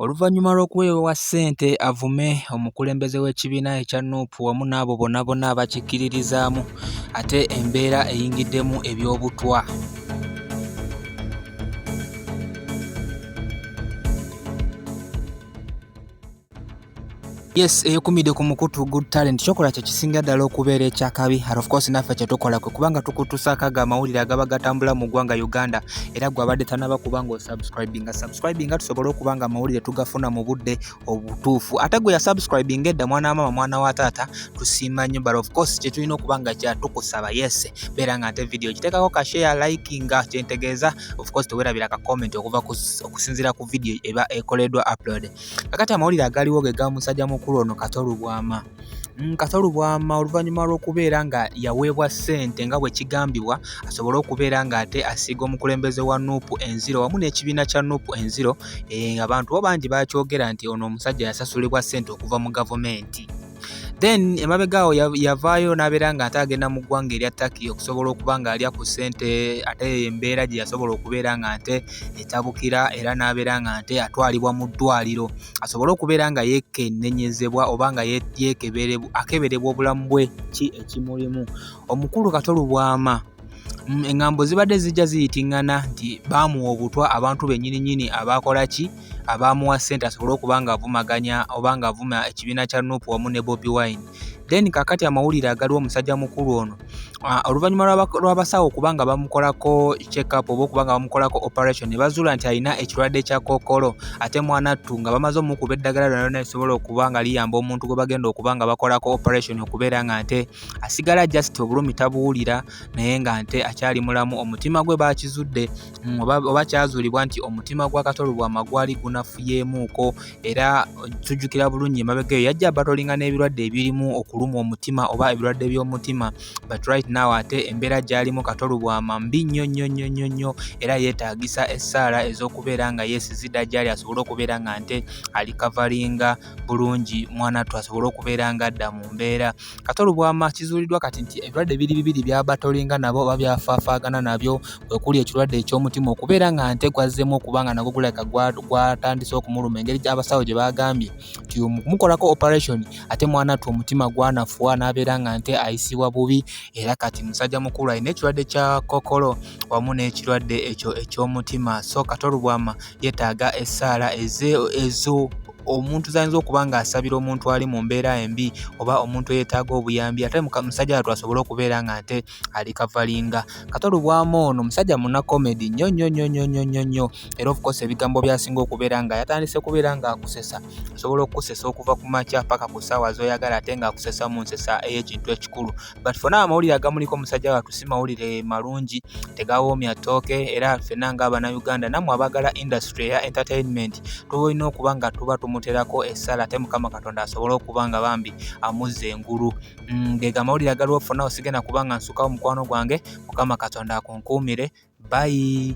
Oluvannyuma lw'okuweewewa ssente avume omukulembeze w'ekibiina ekya nup wamu n'abo bonna bonna abakikkiririzaamu ate embeera eyingiddemu eby'obutwa. Yes, eyokumide ku mukutu good talent kyokola kye kisinga ddala okubeera ekyakabi and of course naffe kye tukola kwe kubanga tukutusaako ago amawulire agaba gatambula mu ggwanga Uganda era gwe abadde tanaba kuba nga osubscribinga subscribinga tusobole okuba nga amawulire tugafuna mu budde obutuufu ate gwe yasubscribinga edda mwana wa maama mwana wa taata tusiima nnyo but of course kye tulina okuba nga kyatukusaba yes beera nga ate video kiteekako ka share likinga kyentegeeza of course tewerabira ka comment okuva okusinziira ku video eba ekoleddwa upload kakati amawulire agaliwo ge ga musajja mukulu ono kato lubwama mm, kato lubwama oluvannyuma lw'okubeera nga yaweebwa ssente nga bwe kigambibwa asobole okubeera ng'ate asiiga omukulembeze wa nuupu enziro wamu n'ekibiina kya nuupu enziro eh, abantu bo bangi bakyogera nti ono omusajja yasasulibwa ssente okuva mu gavumenti then emabega awo yavaayo n'abeera nga ate agenda mu ggwanga erya Turkey okusobola okuba nga alya ku ssente ate embeera gye yasobola okubeera nga nte etabukira era n'abeera nga nte atwalibwa mu ddwaliro asobole okubeera nga yeekennenyezebwa oba nga akeberebwa obulamu bwe ki ekimulimu omukulu kato lubwama Mm, engambo zibadde zijja ziyitingana nti baamuwa obutwa abantu bennyini nyini abaakola ki abaamuwa ssente asobole okuba ng'avumaganya oba ng'avuma ekibiina kya nup wamu ne bobi wine then kakati amawulire agaliwo omusajja mukulu ono ah, oluvannyuma lw'abasawo okuba nga bamukolako checkup oba okuba nga bamukolako operation ne bazuula nti alina ekirwadde kya kookolo ate mwana ttu nga bamaze omukuba eddagala lyona lyona lisobola okuba nga liyamba omuntu gwe bagenda okuba nga bakolako operation okubeera nga nte asigala just obulumi tabuwulira naye nga nte akyali mulamu omutima gwe bakizudde mm, oba kyazuulibwa nti omutima gwa katolubwama gwali gunafuyeemuuko era tujjukira bulungi emabega eyo yajja batolinga n'ebirwadde ebirimu okuluma omutima oba ebirwadde by'omutima but right now ate embeera gyalimu katolubwama mbi nnyo nnyo nnyo nnyo nnyo era yeetaagisa essaala ez'okubeera nga yeesizidda gyali asobole okubeera nga nte alikavaringa bulungi mwana ttu asobole okubeera nga adda mu mbeera kati olubwama kizuuliddwa kati nti ebirwadde biri bibiri byabatolinga nabo oba byafaafaagana nabyo kwekuli ekirwadde ekyomutima okubeera nga nte gwazzemu okuba nga nagwo gulabika gwatandise okumuluma engeri gyabasawo gye bagambye nti mukumukolako operation ate mwana ttu omutima gwanafuwa n'abeera nga nte ayisibwa bubi era kati musajja mukulu alina ekirwadde kya kokolo wamu n'ekirwadde ekyo ekyomutima so kati olubwama yetaaga essaala ezo omuntu zayinza okuba ng'asabira omuntu ali mu mbeera embi oba omuntu eyeetaaga obuyambi ate musajja watu asobole okubeera nga nte ali kavalinga katolubwamu ono musajja muna comedy nnyo nnyo nnyo nnyo nnyo nnyo nnyo era ofukose ebigambo byasinga okubeera nga yatandise kubeera ng'akusesa asobola okukusesa okuva ku makya paka ku ssaawa z'oyagala ate ng'akusesa mu nsesa ey'ekintu ekikulu but fena amawulire agamuliko omusajja watu si mawulire malungi tegawoomya tooke era fena nga abanauganda namwe abagala industry eya entertainment tubalina okuba nga tuba tumuterako essala ate mukama katonda asobole okuba nga bambi amuzza engulu mm, gega amawulire agaliwo fena osigenda kuba nga nsukawo mukwano gwange mukama katonda akunkuumire bayi